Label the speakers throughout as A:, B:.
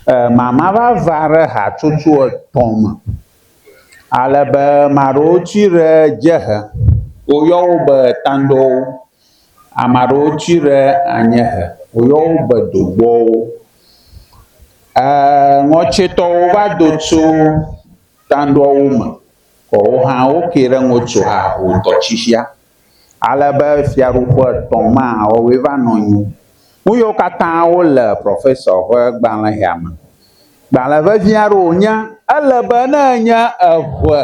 A: e mama va va ɖe hatsotso etɔ̃ me ale be ame aɖewo tsi ɖe dziehe woyɔ wo be tandɔwo, ame aɖewo tsi ɖe anyiehe woyɔ wo be dogbɔwo. E ŋɔtsitɔwo va do tso tandɔwo me, woawo hã woke ɖe ŋɔtso haho tɔtsitsia. ale be fiaɖuƒe etɔ̃ ma wɔwɔe va nɔ anyi. Nu yewo katã wole Professor ƒe gbalẽ ya me. Gbalẽ vevi aɖe wònye. Ele be ne enye eve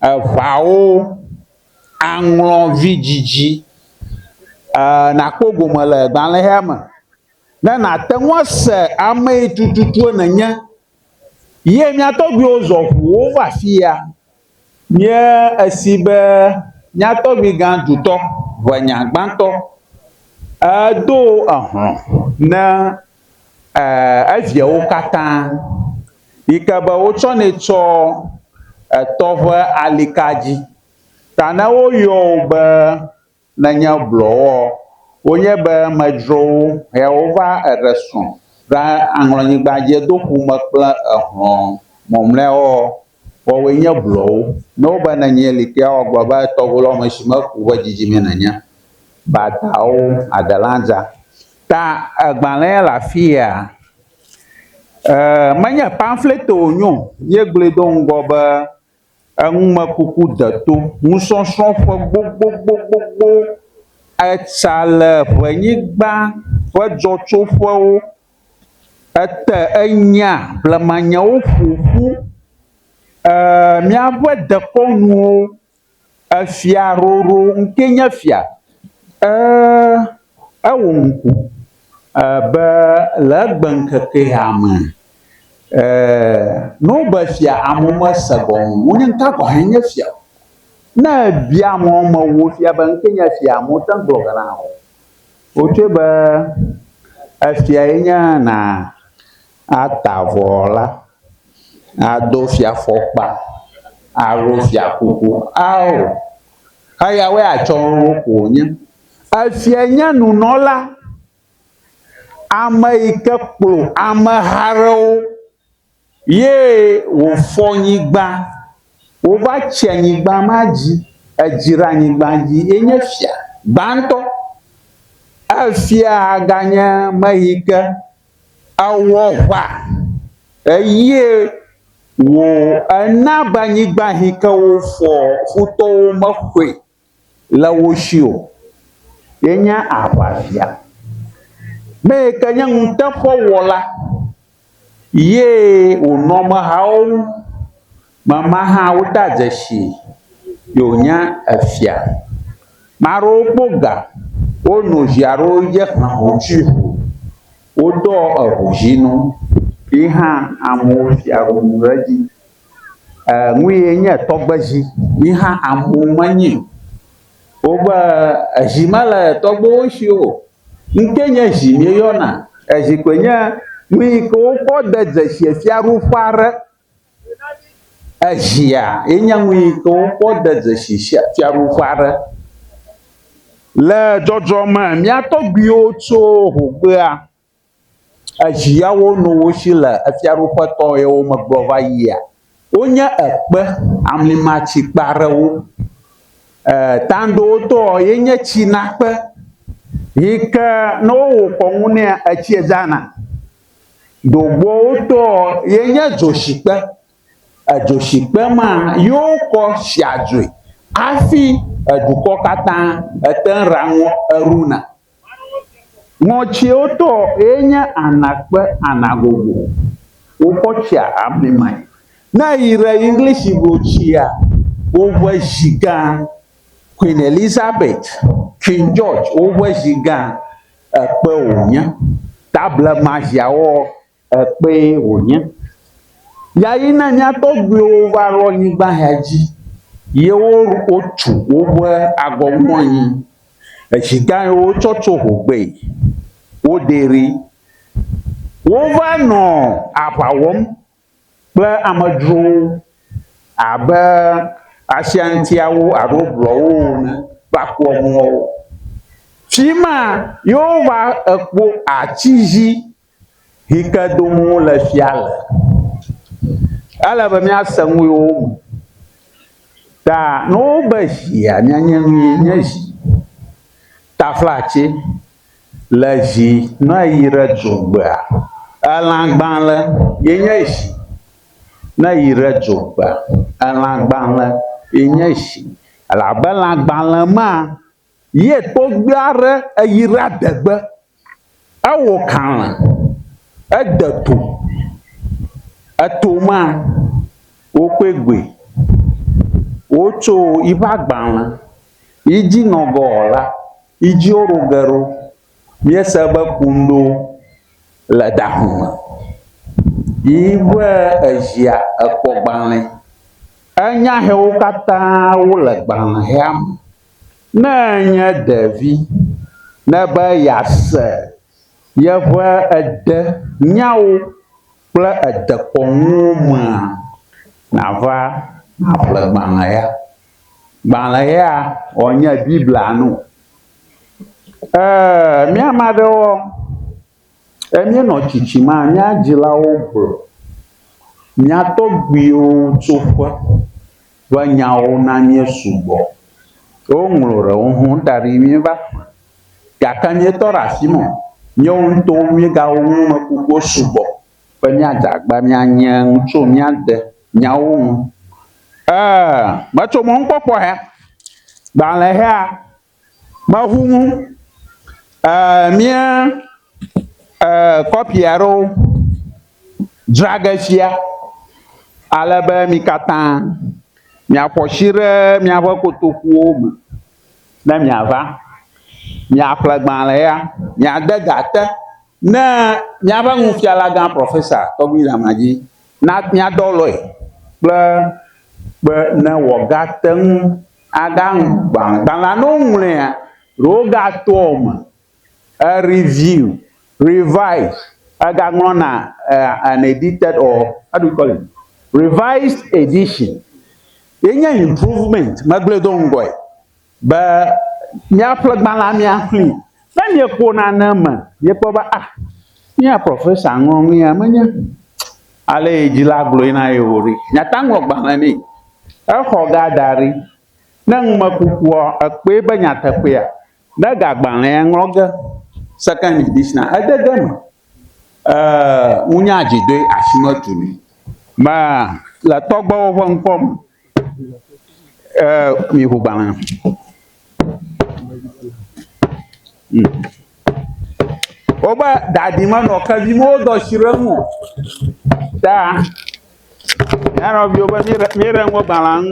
A: eveawo aŋlɔ vidzidzi ee nàkpɔ gome le gbalẽ ya me ne nàte ŋu ase amee tututu nènye. Ye mía tɔgbuiwo zɔ ŋu wova afi ya Nye esi be nyatɔgbiga dutɔ ʋenya gbãtɔ edo ehlɔ̃ ne eviawo katã yi ke be wotsɔnɛ tsɔ etɔ ƒe alikadzi ta ne woyɔ wò be nenye blɔwoɔ, wonye be medzro wo he wova eɖe srɔ̃ ɖa aŋlɔnyigba dje do ƒu me kple ehlɔ̃ mɔmleawoɔ, woawoe nye blɔwo. Ne wobe nenye li ke woa gblɔ be tɔgbu lɔ me shi me ku ƒe dzidzime nenye. Badawo, Adelanza. Ta egbalẽ le afia? E, menye pamflete wonyo, ye gblɔe do ŋgɔ be enumekuku deto nusɔsrɔ̃ ƒe gbogbogbogbo etsa le ʋenyigba ƒe dzɔtsoƒewo ete enya blemanyawo ƒoƒu e míaƒe dekɔnuwo efia roro ŋkee nye fia e. Ewo ŋku be le egbeŋkekea me, no be fia amewo mese gɔme o, wonye ŋka gɔme nye fia o. Ne ebia amewo me wo fia be ŋke nye fia amewo mete ŋu gblɔ bena o. Wotsɔe be efia ye nye na ata avɔ la, ado fia fɔkpa, aɖo fia kuku ao. Eyawoe atsɔ wo koe wonye. Efiae nye nunɔla, ame yi ke kplɔ ameha aɖewo ye wòfɔ nyigba, wova tsi anyigba ma dzi, edzra anyigba dzi ye nye fia gbãtɔ. Efia ganye ame yi ke ewɔ ŋa eye wòna be anyigba yi ke wofɔ futɔwo mexɔe. le wo shi o. Yenye aʋafia. Ne yi ke nye nuteƒewɔla ye wònɔ amehawo ŋu. Mama hã wodea dzesii be wònye efia. Ame aɖewo kpɔ ga wonɔ zi aɖewo dzi ehe ho tsi ho. Woɖɔ eŋudzinu ye hã amewo fia ŋu ɖe edzi. nuyee nye tɔgbedzi yi hã amewo menyi o. Wobe edzi mele tɔgbewo si o. Ŋkee nye dzi míeyɔna. Edzi koe nye nu yi ke wokɔ de dzesiɛ fiaɖuƒe aɖe. Edzia ye nye nu yi ke wokɔ de dzesi sia fiaɖuƒe aɖe. Le dzɔdzɔme mía tɔgbuiwo tso hogbea. Ezi yawo no wo si le efiaɖuƒe tɔ yewo megblɔ va yia. Wonye ekpe amlimatsi kpe aɖewo. E tanɖowo tɔɔ yenye tsi na kpe yi ke ne wowɔ kɔnu nɛ etsie dzana. Ɖogbɔwo tɔɔ yenye dzotsi kpe. Edzoshigbe ma yoo kɔ shia dzoe afi edukɔ katã etɛn raŋɔ eruna. Ŋɔtsiwo tɔ ye nye ana kpe ana gogo. Wokɔ tsia amli mae. Ne eyi ɖe English go tsia woƒe zi gã Queen Elizabeth, King George woƒe zi gã ekpe wonye. Table ma ziawoɔ Ekpee wònye. Ya yi na mía tɔgbuiwo va ɖo anyigba ya dzi. Yewo wotu woƒe agɔ ŋu anyi. Etsi gã yi wotsɔ tso ho gbee. Wodee ɖi. Wova nɔ aʋa wɔm kple amedzrowo abe asiantiawo alo blɔwo ene va kpɔ mɔ wo. Fi ma ye wova ekpɔ ati dzi. Hike dom wo le fia le. Ele be mía se ŋu yo wo me. Ta ne wo be zia mía nye nu ye nye zi. Ta fla tse le zi ne yi ɖe dzo gbea. Elã gbalẽ ye nye zi ne yi ɖe dzo gbea. Elã gbalẽ ye nye zi. Elabe elã gbalẽ ma Ye tɔgbui aɖe eyi ɖe adegbe. Ewɔ kalẽ, ede to. Eto ma, wokpe gbɔe. Wotso yiƒe agbalẽ yi dzi nɔ ge ɔ la, yi dzi woɖo ge ɖo. Míese be kunuɖo le da hu me. Yi ƒe ezia ekpɔ gbalẽ. Enya hewo katã wole gbalẽhea me. Ne enye ɖevi, nebe yease yeƒe ede nyawo kple edekɔnuwo mea, nàva nàƒle gbalẽ ya. Gbalẽ ya wòanye Biblia nu. Ee, mía ame aɖewoa. Ke míenɔ tsitsim la, mía dzilawo gblɔ mía tɔgbuiwo tso ƒe ƒe nyawo na mí sugbɔ. Woŋlɔ ɖewo hã da ɖi míeva xlẽ gake míetɔ ɖe asi me o. Míawo ŋutɔwo míegawɔ numekukuwo sugbɔ be míadze agba míanye nu tso mía de nyawo ŋu. Ee, metso mɔnukpɔkpɔ he. Gbalẽhea. Maŋu ŋu ɛɛ mía ɛɛ kɔpi aɖewo dzra ge fia ale be mi katã miaƒo asi ɖe miaƒe kotokuwo me ne miava. Miaƒle gbalẽ ya, miade ga te ne míaƒe nufialagã profesa Tɔgbi Damadzi na míadɔ lɔe kple be ne wòagate ŋu Agbalẽa ne woŋlɔea, ɖe wogatɔa eme, review, revise, egaŋlɔna an edited or how do you call it, revised edition ye nye improvement, megblɔe do ŋgɔe be míaƒle gbalẽa míaxlẽe. Ne mieƒo nane eme, miekpɔ be, ah, mía profesa ŋlɔ nu ya menye ale yi dzila gblɔe na ye o ɖe, miata ŋu agbalẽ nɛ. Exɔ ga da ɖi. Ne numekukua ekpɔe be nyateƒea, ne egagbalẽa ŋlɔ ge, Second Edition, ede ge eme. Wonya dzi ɖoe asi metu ni. Me le tɔgbewo ƒe ŋkɔ me miŋu gbalẽ. Wobe ɖaɖi menɔ ke dzi me wodo asi ɖe eŋu o ta mía nɔviwo be míɖe míɖe ŋgɔ gbalẽa nu.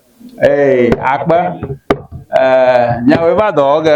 A: Ee, akpe. Ee, nyawoe va dɔ wɔ ge.